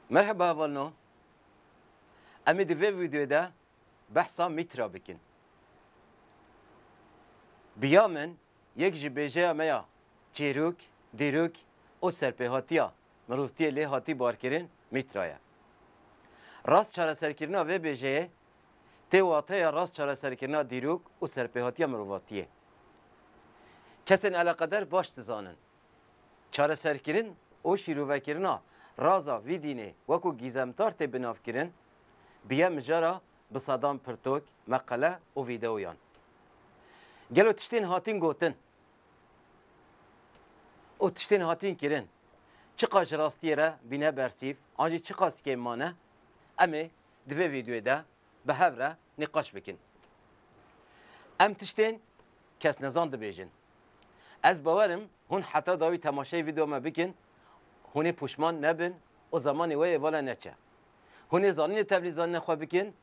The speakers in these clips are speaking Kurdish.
Merheba Valno, Em ê di vê vîdeoyê de behsa Mîtra bikin. Bi ya min yek ji bêjeya me ya çêrok, dîrok û serpêhatiya mirovtiyê lê hatî barkirin Mîtra ye. Rast çareserkirina vê bêjeyê tê wateya rast çareserkirina dîrok û serpêhatiya mirovatiyê. Kesên eleqeder baş dizanin. Çareserkirin û şîrovekirina raza vî dînê wekû gîzemtar tê binavkirin, bûye mijara bi sedan pirtûk, meqele û vîdeoyan. Gelo tiştên hatin gotin û tiştên hatin kirin çiqas ji rastiyê re bîne bersîv an jî çiqas kêm mane, em ê di vê vîdeoyê de bi hev re nîqaş bikin. Em tiştên kesnezan dibêjin. Ez bawer im hûn heta dawî temaşeyê vîdeoya me bikin, hûn ê poşman nebin û zemanê we yê vala neçe. Hûn ê zanînê tevlî zanîna xwe bikin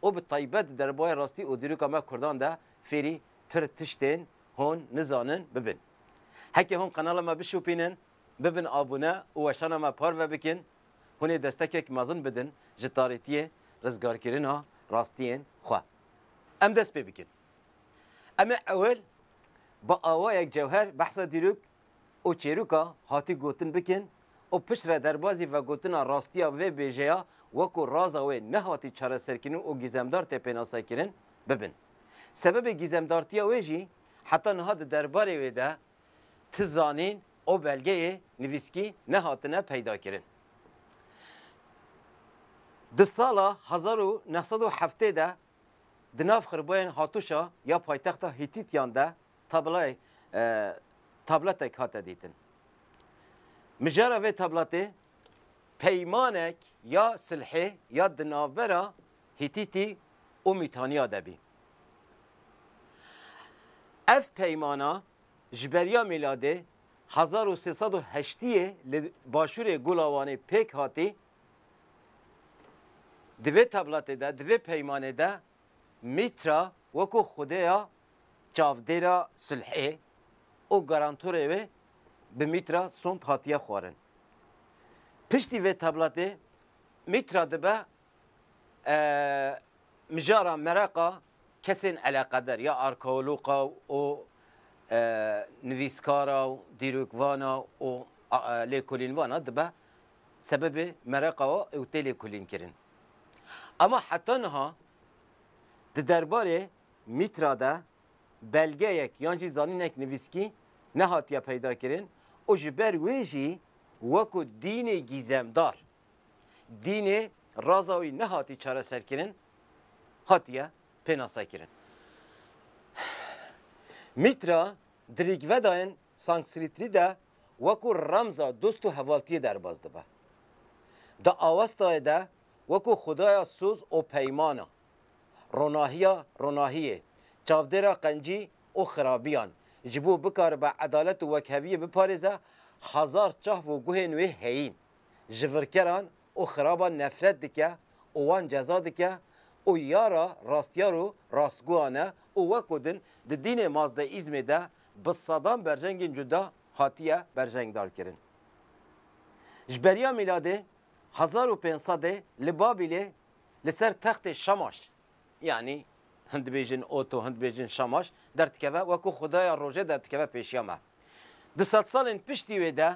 û bi taybet di derbaya rastî û dîroka me kurdan de fêrî pir tiştên hûn nizanin bibin. Heke hûn qenala me bişopînin, bibin abone û weşana me parve bikin, hûn ê destekek mezin bidin ji tarîtiyê rizgarkirina rastiyên xwe. Em dest pê bikin. Em ê ewil bi awayek cewher behsa dîrok û çêroka hatî gotin bikin û piştre derbazî vegotina rastiya vê bêjeya wekû raza wê nehatî çareserkirin û gîzemdar tê pênasekirin, bibin. Sebebê gîzemdartiya wê jî heta niha di derbarê wê de ti zanîn û belgeyê nivîskî nehatine peydakirin. Di sala hezar û neh sed û heftê de Di nav xirboyên Hatûşa ya paytexta Hîtîtiyan de tablayê tabletek hate dîtin. Mijara vê tabletê peymanek ya silhê ya di navbera Hîtîtî û Mîtaniya de bî. Ev peymana ji beriya mîladê hezar û sê sed û heştiyê li başûrê Gulawanê pêk hatî Di vê tabletê de, di vê peymanê de Mîtra wekû xwedêya çavdêra sulhê û garantorê wê bi Mîtra Sond hatiye xwarin. Piştî vê tabletê Mîtra dibe mijara mereqa kesên eleqeder ya arkeoloqa û nivîskara û dîrokvana û lêkolînvana dibe sebebê mereqa ew tê lêkolînkirin. Ama heta niha di derbarê mîtra de belgeyek yan jî zanînek nivîskî nehatiye peydakirin û ji ber wê jî weko dînê gîzemdar, dînê raza wî nehatî çareserkirin, hatiye pênasekirin. Mîtra Di Rîgvedayên Sanskritrî de wekû remza dost û hevaltiyê derbas dibe. Di Awestayê de wekû xwedaya soz û peymana, ronahiya ronahiyê, çavdêra qencî û xirabiyan, ji bo bikaribe edalet û wekheviyê biparêze, hezar çahv û guhên wê heyîn, ji virkeran û xiraban nefret dike û wan ceza dike û ya ra rastiyar û rastguhan e û weko din di dînê Mazdeîzmê de bi sedan berjengên cuda hatiye berjengdarkirin. Ji beriya mîladê hezar û pênc sedê li Babîlê li ser textê Şamaş, yanî hin dibêjin ot û hin dibêjin Şamaş, derdikeve weko xwedaya rojê derdikeve pêşiya me. Di sedsalên piştî wê de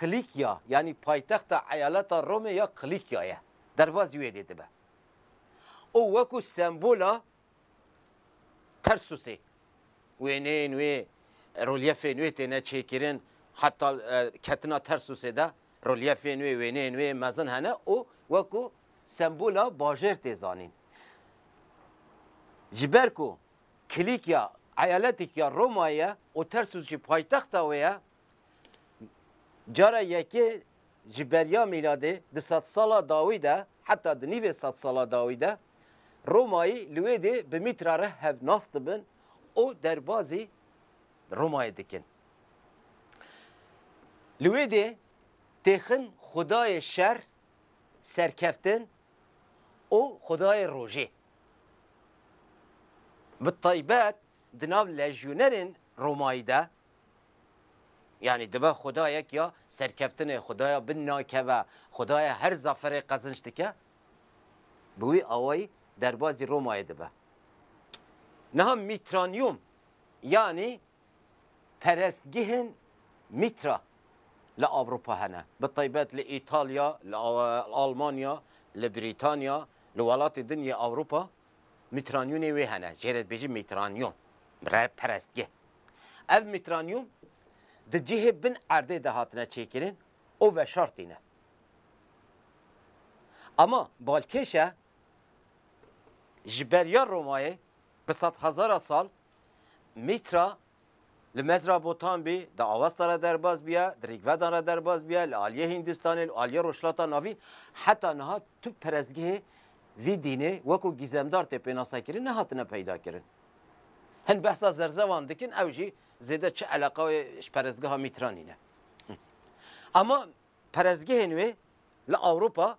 Kilikya yanî paytexta eyaleta Romê ya Kilikya ye, derbazî wê dê dibe û wekû sembola Tersusê wêneyên wê, relyefên wê têne çêkirin, heta ketina Tersusê de relyefên wê, wêneyên wê mezin hene û wekû sembola bajêr tê zanîn. Ji ber ku Kilikya eyaletekî ya Romayê ye û Tersus jî paytexta wê ye, Cara yekê ji beriya mîladê di sedsala dawî de heta di nîvê sedsala dawî de Romayî li wê dê bi Mîtra re hevnas dibin û derbazî Romayê dikin. Li wê dê têxin xwedayê şer, serkeftin û xwedayê rojê. Bi taybet di nav lejyonerên Romayî de Yanî dibe xwedayek ya serkeftinê, xwedaya bin nakeve, xwedaya her zaferê qezinç dike, bi wî awayî derbazî Romayê dibe. Niha Mîtranyum yanî perestgehên Mîtra li Ewropa hene, bi taybet li Îtalya, li Almanya, li Brîtanya, li welatên din yê Ewropa. Mîtranyûnê wê hene, jê re dibêjin mîtranyûn, re perestgeh. Ev mîtranyûn di cihê bin erdê de hatine çêkirin û veşartîne. Ama balkêşe ji beriya Romayê bi sedhezara sal mîtra Li mezra botan bê, di Awesta re derbas biya, di Rîgvedan re derbas biya, li aliyê Hîndistanê, li aliyê Rojhilata Navîn, heta niha tu perestgehê vî dînê wekû gîzemdar tê pênasekirin nehatine peydakirin. Hin behsa zerzevan dikin, ew jî zêde çi eleqa wê ji perestgeha Mîtranî ne. Ama perestgehên wê li Ewropa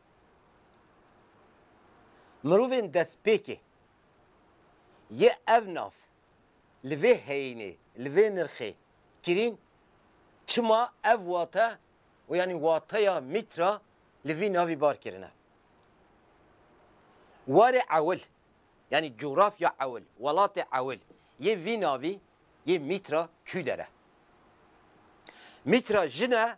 Mirovên destpêkê yê ev nav li vê heyînê, li vê nirxê kirîn, çima ev wate û yanî wateya mîtra li vî navî bar kirine. Warê ewil, yanî cografya ewil, welatê ewil yê vî navî yê mîtra Kûder e. Mîtra jin e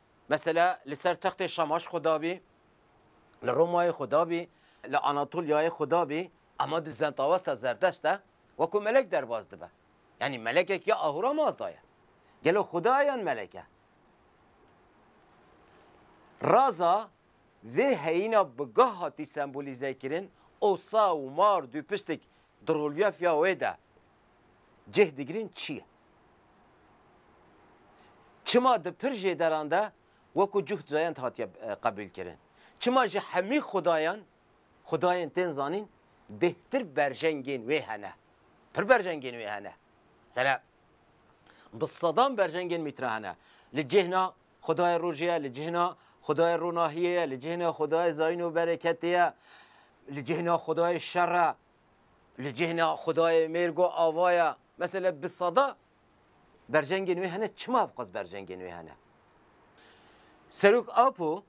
Mesela li ser textê Şamaş xwe dabî, li Romayê xwe dabî, li Anatolyayê xwe dabî. Ema di zentawesta zerdest de wekû melek derbas dibe. Yanî melekek ya Ahûra Mazda ye. Gelo xuda ye yan melek e? Raza vê heyîna bi gah hatî sembolîzekirin, osa û mar dû piştik di rolyefya wê de cih digirîn çi ye? Çima di pir jê deran de wekû cuht zayend hatiye qebûlkirin? Çima ji hemî xudayan, xudayên tên zanîn bêhtir berjengên wê hene? Pir berjengên wê hene. Mesela bi sedan berjengên mître hene. Li cihna xudayê rojê ye, li cihna xudayê ronahiyê ye, li cihna xudayê zayîn û bereketê ye, li cihna xudayê şer e, Li cihna xudayê mêrgo ava ye. Mesele bi sada berjengên wê hene çima ev qas berjengên wê hene? Serok Apo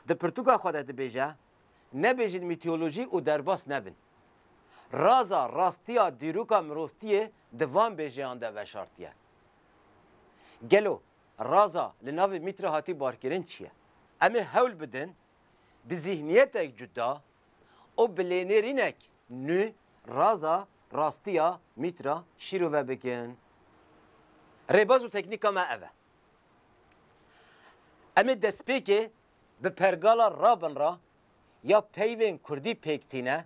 di pirtûka xwe de dibêje, Nebêjin mîtolojî û derbas nebin. Raza rastiya dîroka mirovtiyê di van bêjeyan de veşartiye. Gelo raza li navê mît re hatî barkirin çi ye? Em ê hewl bidin bi zîhniyetek cuda û bi lênêrînek nû raza rastiya mîtra şîrove bikin. Rêbaz û teknîka me ev e. Em ê destpêkê bi pergala rabinra ya peyvên kurdî pêk tîne,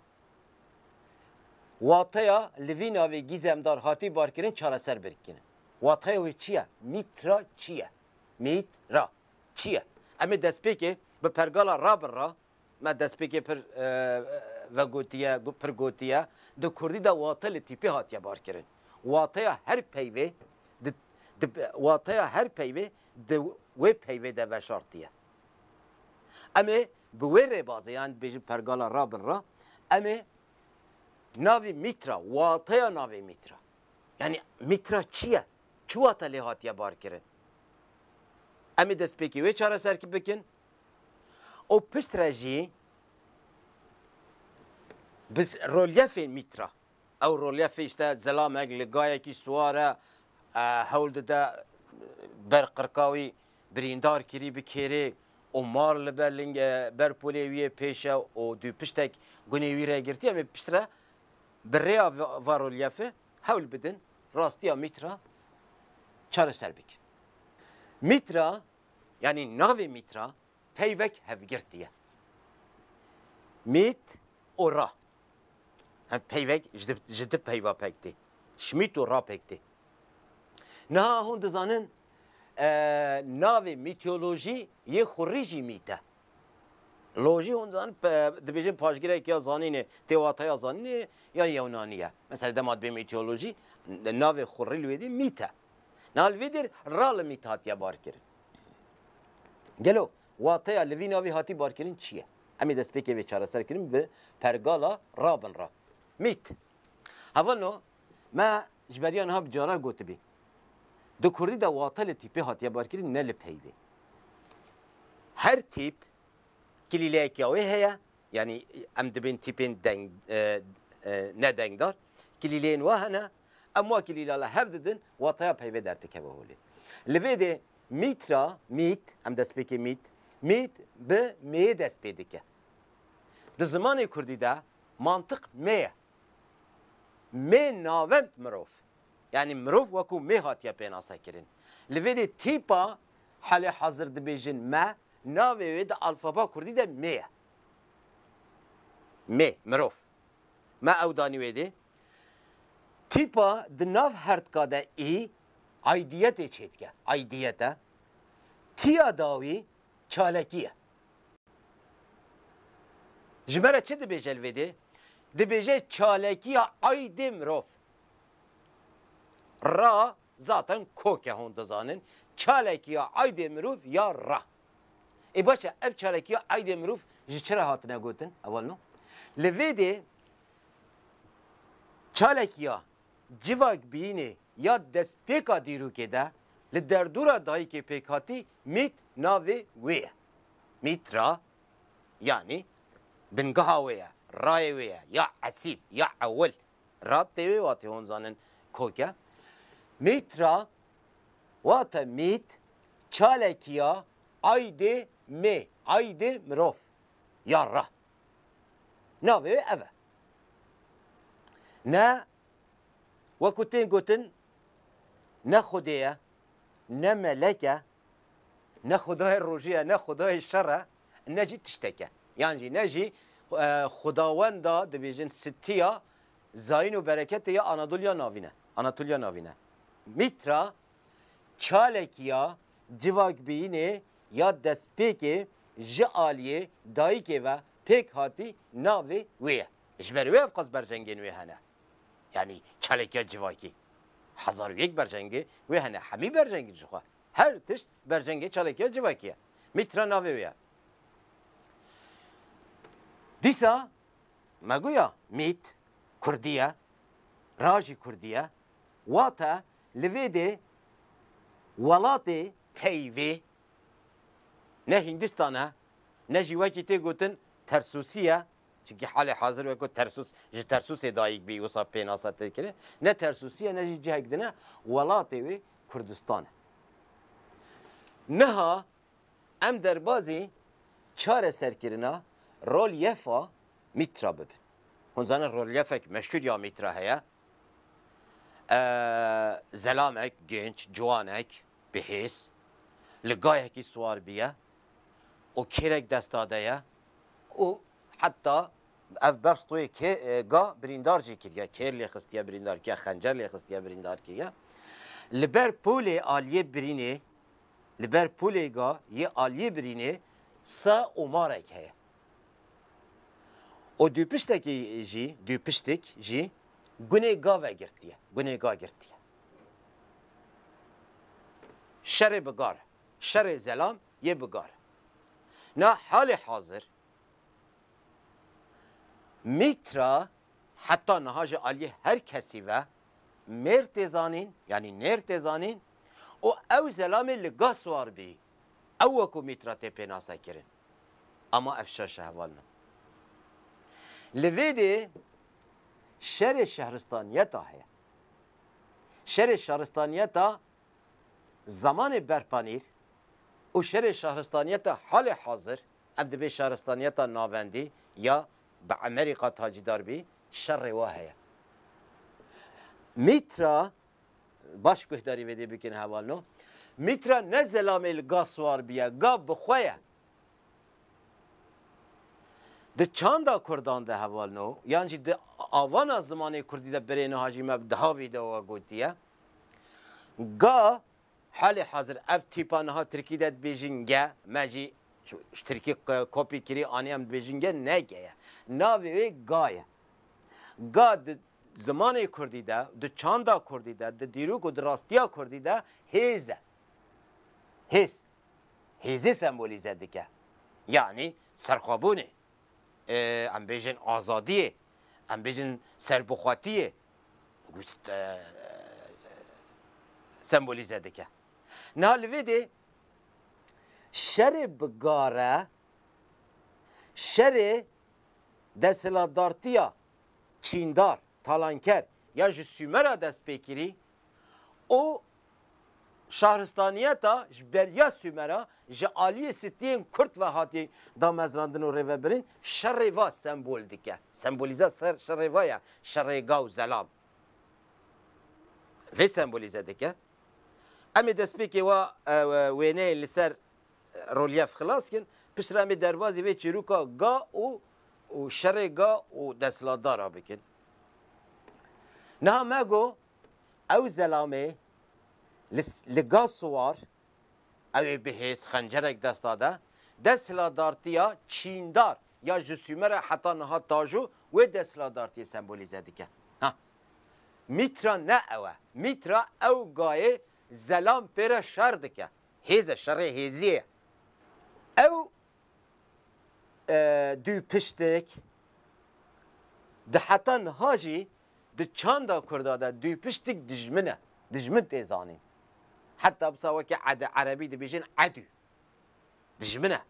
wateya li vî navê gîzemdar hatî barkirin çareser bikinin. Wateya wê çi ye? Mîtra çi ye? Mît ra çi ye? Em ê destpêkê bi pergala rabinra Me destpêkê pir vegotiye, pir gotiye, di kurdî de wate li tîpê hatiye barkirin. Wateya her peyvê di di wateya her peyvê di wê peyvê de veşartiye. Em ê bi wê rêbazê yan dibêjin pergala ra bin ra, em ê navê mîtra, wateya navê mîtra. Yanî mîtra çi ye? Çi wate lê hatiye barkirin? Em ê destpêkê wê çareser bikin. û pişt re jî bi relyefên mîtra, ew relyefê îşte zilamek li gayekî siwar e, hewl dide ber qirkawî birîndar kirî bi kêrê û mar li ber lingê ber polê wî yê pêş e û dûpiştek gunê wî re girtiye, em ê pişt re bi rêya va relyefê hewl bidin rastiya mîtra çareser bikin. Mîtra Yanî navê mîtra peyvek hevgirtî ye. Mît û ra. Ev peyvek ji di peyva pek tê. Şmît û ra pek tê. Niha hûn dizanin navê mîtolojî yê xurî jî mît e. Lojî hûn dizanin dibêjin paşgirek ya zanînê tê wateya zanînê ya yewnanî ye. Mesela dema dibê mîtolojî navê xurî li wê dî mît e. Niha li vî dir ra li mît hatiye barkirin. Gelo wateya li vî navê hatî barkirin çi ye? Em ê destpêkê vê çareserkirin bi pergala ra bin ra. Mît. Hevano me ji beriya niha bi cara gotibî. Di kurdî de wate li tîpê hatiye barkirin ne li peyvê. Her tîp kilîleyekîa wê heye, yanî em dibên tîpên deng, nedengdar, kilîleyên we hene, Em wakî lîla li hev didin wateya peyvê derdikeve holê. Li vê dê mît ra, mît, em destpêkê mît, mît bi mêyê dest pê dike. Di zimanê kurdî de mantiq mê ye. Mê navend mirov. Yanî mirov wekû mê hatiye pênasekirin. Li vê dê tîpa halê hazir dibêjin me, navê wê di alfaba kurdî de mê ye. Mê, mirov. Me ew danî wê dê. Tîpa di nav hertka de ê aidiyetê çêdike. Aidiyet e. Tiya dawî çalekî ye. Ji me re çi dibêje li vê dê? Dibêje çalekiya aidê mirov ra zaten kok e hûn dizanin. Çalekiya aidê mirov ya ra. Ê baş e, ev çalakiya aydê mirov ji çi re hatine gotin? Heval no. Li vê dê çalakiya civak biyînê ya destpêka dîrokê de li derdora dayikê pêkhatî mît navê wê ye. Mît ra yanî bingeha wê ye, rayê wê ye ya esîl, ya ewil, Rabtê wê watê hûn zanin kok e. Mîtra wate mît, çalekî ya aydê mê, aydê mirov ya ra. Navê wê ev e. Ne wekû tên gotin ne xwedê ye, ne melek e, ne xwedayê rojî ye, ne xwedayê şer e, ne jî tiştek e. Yan jî ne jî xwedawenda dibêjin sitiya zayîn û bereketê ya Anadoliya Navîn e, Anatoliya Navîn e. Mîtra çalekî ya civakbîyînê ya destpêkê ji aliyê dayikê ve pêk hatî navê wê ye. Ji ber wê ev qas berjengên wê hene. Yanî çalekiya civakî hezar û yek berjengê wê hene. Hemî berjengî jixwe Her tişt bercengê çalekiya civakî ye. Mîtra navê wê ye. Dîsa me goya mît kurdî ye, ra jî kurdî ye. Wate li vê dê welatê peyvê ne Hîndistan e ne jî wekî tê gotin Tersûsî ye Çimkî halê hazir weko Tersûs ji Tersûsê dayîk bî wisa pênasa tê kirin. Ne Tersûsî ye ne jî cihek din e, welatê wê Kurdistan e. Niha em derbazê çareserkirina rolyefa Mîtra bibin. Hûn zanin rolyefek meşhûr ya Mîtra heye. Zelamek, genç, ciwanek, bihês, li gayekî siwar bîye. û kêrek desta de ye û heta ev beş toyê kê ga birîndar jî kiriye, kêr lê xistiye birîndar kiriye, xencer lê xistiye birîndar kiriye. Li ber polê aliyê birînê li ber polê ga yê aliyê birînê se omarek heye û dûpiştekî jî dûpiştik jî gunê ga vegirtiye, gunê ga girtiye. Şerê bi gar e. Şerê zelam yê bi gar e. Na halê hazir Mîtra heta niha ji aliyê her kesî ve mêr tê zanîn yanî nêr tê zanîn û ew zelamê li ga siwar bî. Ew wekû Mîtra tê pênase kirin. Ama ev şer şehval na. Li vê dê şerê şehristaniyeta heye. Şerê şaristaniyeta Zamanê berpanîr û şerê şaristaniyeta halê hazir, ev dibê şaristaniyeta navendî ya bi Emerî qat hacîdar bî, şerê wa heye. Mîtra, baş guhdarî vêdê bikin heval no, Mîtra ne zelamê li ga siwar bîye, ga bi xwe ye. Di çanda kurdan de heval no, yan jî di avana zimanê kurdî de berê niha jî me di ha vîdeoa gotiye, Ga, halê hazir ev tîpa niha tirkî de dibêjin ge, me jî ji tirkî kopî kirî anî em dibêjin ge ne ge ye. Navê wê ga ye. Ga di zimanê kurdî de, di çanda kurdî de, di dîrok û di rastiya kurdî de hêz e. Hêz. Hêzê sembolîze dike. Yanî serxwebûnê, em bêjin azadiyê, em bêjin serbixwetiyê, gust sembolîze dike. Niha li vê dê şerê bi gare, şerê desthilatdartiya çîndar, talanker ya ji Sûmera dest pê kirî û Şaristaniyeta ji beriya Sumer a ji aliyê stiyên Kurd ve hatiye damezrandin û rêvebirin, şerê va sembol dike. Sembolîza şerê va ye şerê gaw zelal. Vê sembolîze dike. Em ê destpêkê wa wêneyên li ser rolyef xilas kin, piştre em ê derbazî vê çîrûka ga û û şerê ga û desthilatdar a bikin. Niha me got Ew zelamê li li ga siwar, ew ê bi hêz xencerek desta de, desthilatdartiya çîndar ya ji Sûmer e heta niha tajo wê desthilatdartiyê sembolîze dike. Ha. Mîtra ne ew e. Mîtra ew gayê zelam pê re şer dike. Hêz e, şerê hêzî ye. Ew dûpiştik di heta niha jî Di çanda kurda de dûpiştik dijmin e, dijmin tê zanîn. Heta bisa wekî edi erebî dibêjin edû. Dijmin e.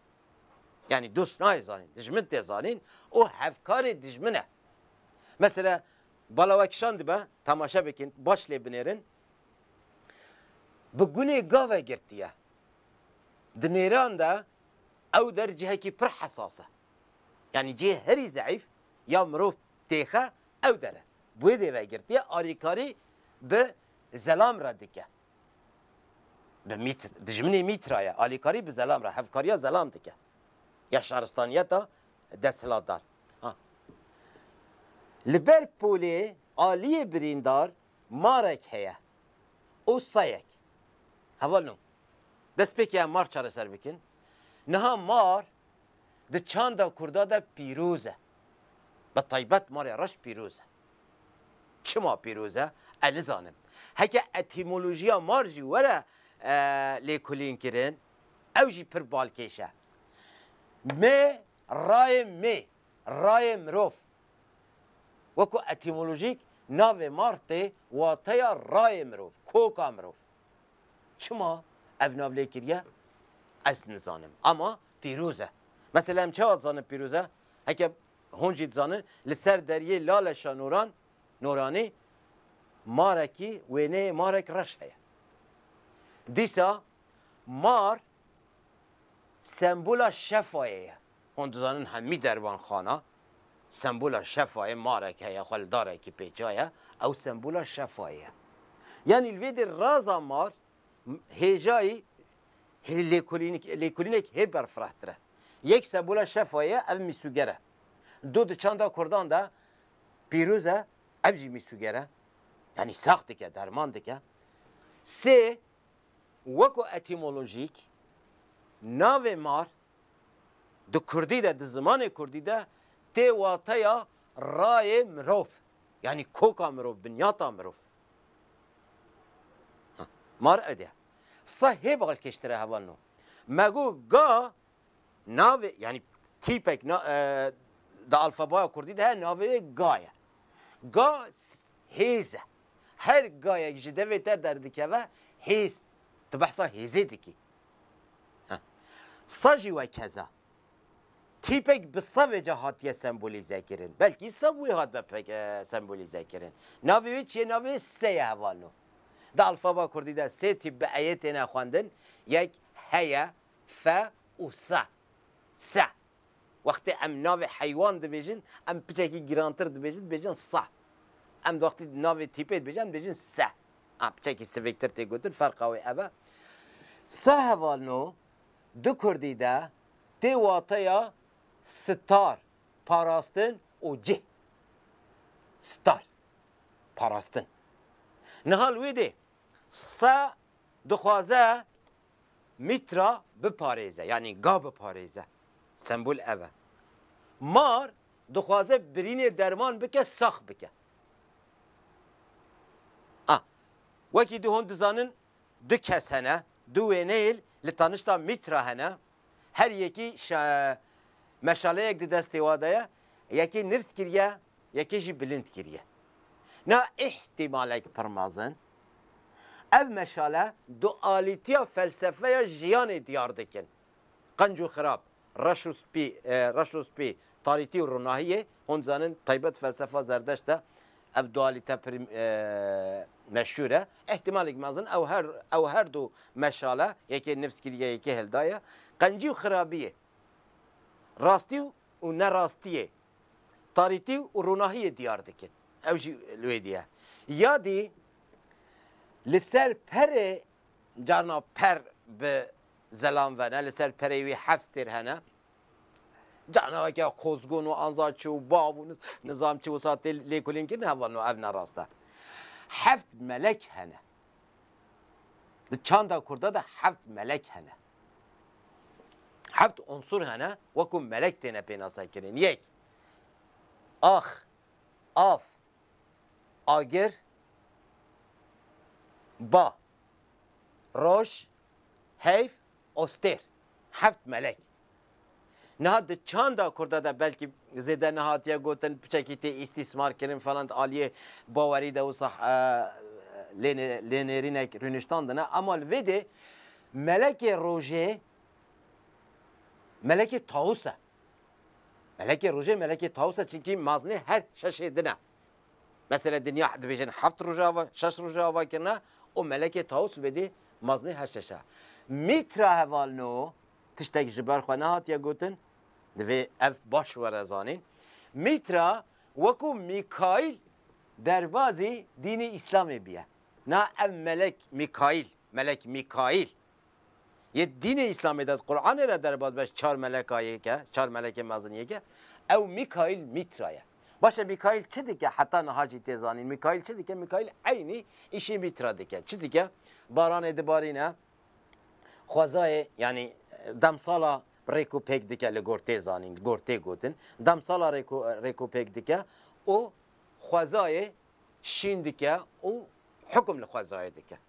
Yanî dost nayê zanîn, dijmin tê zanîn û hevkarê dijmin e. Mesela balawekişan dibe, temaşe bikin, baş lê binêrin. Bi gunê gave girtiye. Di nêran de ew der cihekî pir hesas e. Yanî cihê herî zeîf ya mirov têxe ew dere. Bi wê dêve girtiye alîkarî bi zelam re dike. Bi mît dijminê mîtra ye, alîkarî bi zelam re, hevkariya zelam dike ya şaristaniyeta desthilatdar. Ha li ber polê aliyê birîndar marek heye û seyek hevalino destpêkeye mar çareser bikin. Niha mar di çanda Kurda de pîroz e. Bi taybet Malê Reş pîroz e. Çima pîroz e? Ez nizanim. Heke etîmolojiya mal jî were lêkolînkirin, ew jî pir balkêş e. Mê, rayê mê, rayê mirov. Wekû etîmolojîk navê mal tê wateya rayê mirov, koka mirov. Çima ev nav lê kiriye? Ez nizanim. Ama Pîroz e. Mesela em çawa dizanin pîroz e? Heke hûn jî dizanin li ser deriyê Laleşa Noran, Noranî, marekî wêneyê marek reş heye. Dîsa mar sembola şefayê ye. Hûn dizanin hemî derbanxana sembola şefayê marek heye xwe li darekî pêçaye, ew sembola şefayê ye. Yanî li vê dir raza mar Hêjayî lêkolînek hê berfirehtir e. Yek sembola şefa ye ev mîsûger e. Do di çanda kurdan de pîroz e ev jî mîsûger e. Yanî sax dike, derman dike. Sê, weko etîmolojîk navê mar di kurdî de, di zimanê kurdî de tê wateya rayê mirov. Yanî koka mirov, binyata mirov. Mar ede sa hê balkêştire heval no. Me got ga navê yanî tîpek di alfabaya kurdî de heye navê wê ga ye. Ga hêz e. Her gayek ji devê te derdikeve hêz. Tu behsa hêzê dikî. Sa jî wekeza. Tîpek bi savê ca hatiye sembolîzekirin. Belkî sav wê hat be sembolîzekirin. Navê wê çiye navê se ye heval no. Di alfaba kurdî de sê tîp bi eyê têne xwendin, yek heye, fe û se. Se. Wextê em navê heywan dibêjin em piçekî girantir dibêjin dibêjin se. Em wextî navê tîpê dibêjin em dibêjin se. A piçekî sivêktir tê gotin ferqa wê ev e. Se heval no Di kurdî de tê wateya sitar, parastin û cih. Sitar, parastin. Niha li wê dê se dixwaze mîtra biparêze yanî ga biparêze. Sembol ev e. Mar dixwaze birînê derman bike sax bike. A, wekî di hûn dizanin du kes hene, du wêneyêl li tanişta Mîtra hene, her yekî meşaleyek di destê wa de ye, yekê nifs kiriye, yekê jî bilind kiriye. Niha îhtîmalek pir mezin, ev meşale dualîtiya felsefeya jiyanê diyar dikin. Qenc û xirab, reş û spî, reş û spî, tarîtî û ronahiyê, hûn dizanin taybet felsefa Zerdeşt de ev dualîte pirî meşhûr e. Îhtîmalek mezin ew her ew her du meşale, yekê nifs kiriye yekê hildaye. Qencî û xirabiyê, rastî û nerastiyê, tarîtî û ronahiyê diyar dikin. Ew jî li wê dî ye. Ya dî li ser perê carna per bi Zelam vene, li ser pereyê wî heft stêr hene. Canaveke qozgun û anza çi û bav û nizam çi wisa tê lêkolînkirin heval no, ev ne rast e. Heft melek hene. Di çanda kurda de heft melek hene. Heft unsur hene wekû melek têne pênasekirin. Yek, ax, av, agir, ba, roj, Heyf Ostêr, Heft Melek. Niha di çanda Kurda de belkî zêde nehatiye gotin piçekî tê îstîsmar kirin falan di aliyê bawerî de wisa lênêrînek rûniştan dine. Ema li vê dê Melekê Rojê Melekê Tawus e. Melekê Rojê Melekê Tawus e çinkî maznê her şeşê din e. Mesela dinya dibêjin heft rojava, şeş rojava ke ne û Melekê Tawus wêdî maznê heşeş e. Mîtra heval no tiştek ji ber xwe nehatiye gotin, divê ev baş were zanîn. Mîtra wekû Mîkaîl derbazî dînê Îslamê bûye. Na ev melek Mîkaîl, melek Mîkaîl Yê dînê Îslamê de Quranê de derbas be çar meleka yê ke, çar melekê mezin yê ke, ew Mîkaîl Mîtra ye. Baş e Mîkaîl çi dike heta niha jî tê zanîn? Mîkaîl çi dike? Mîkaîl eynî îşê Mîtra dike. Çi dike? Baranê dibarîne, xwezayê yanî demsala rêk û pêk dike li gor tê zanîn, gor tê gotin. Demsala rêk û rêk û pêk dike û xwezayê şîn dike û hukm li xwezayê dike.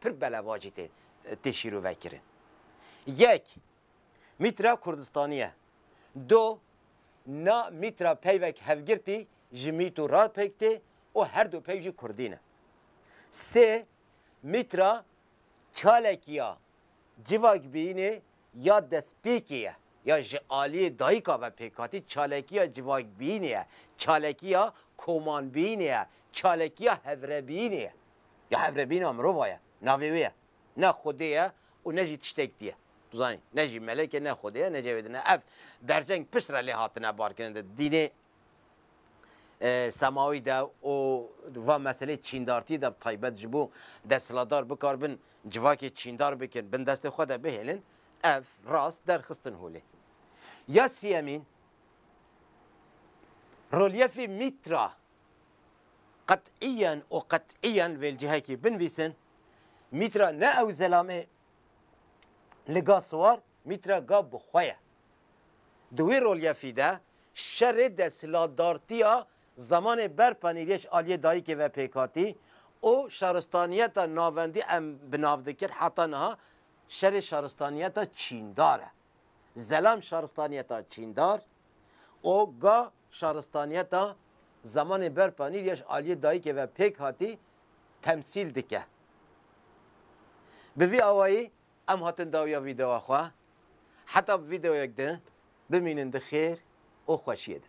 pir belevacî tê tê şîrovekirin. Yek, mîtra Kurdistanî ye. Do, na mîtra peyvek hevgirtî ji mîto re pêk tê û her du peyv jî Kurdî ne. Sê, mîtra çalekî ya civakbîyînê ya destpêkê ye ya ji aliyê dayika ve pêk hatî, çalekî ya civakbîyînê ye, çalekî ya komanbîyînê ye, çalekî ya hevrebîyînê ye. Ya hev re bîna mirova ye. Navê wê ye. Ne xwedê ye û ne jî tiştek diye. Tu zanî. Ne jî melek e, ne xwedê ye, ne cevêdin e. Ev berceng pişt re lê hatine barkirin di dînê semawî de û di va meselê çîndartî de bi taybet ji bo desthilatdar bikar bin civakê çîndar bikin, bin destê xwe de bihêlin, ev rast derxistin holê. Ya siyemîn, Rolyefê Mîtra Qet'iyen û qet'iyen vê li cihekî binvîsin, mîtra ne ew zelamê li ga siwar, mîtra ga bi xwe ye. Di wê rolyefî de şerê desthilatdartiya zemanê ber panîriyê ji aliyê dayikê ve pêk hatî û şaristaniyeta navendî em bi nav dikin heta niha şerê şaristaniyeta çîndar e. Zelam şaristaniyeta çîndar û ga Şaristaniyeta zemanê berpa nîr ya ji aliyê dayikê ve pêk hatî temsîl dike. Bi vî awayî em hatin dawiya vîdeoya xwe. Heta bi vîdeoyek din bimînin di xêr û xweşiyê de.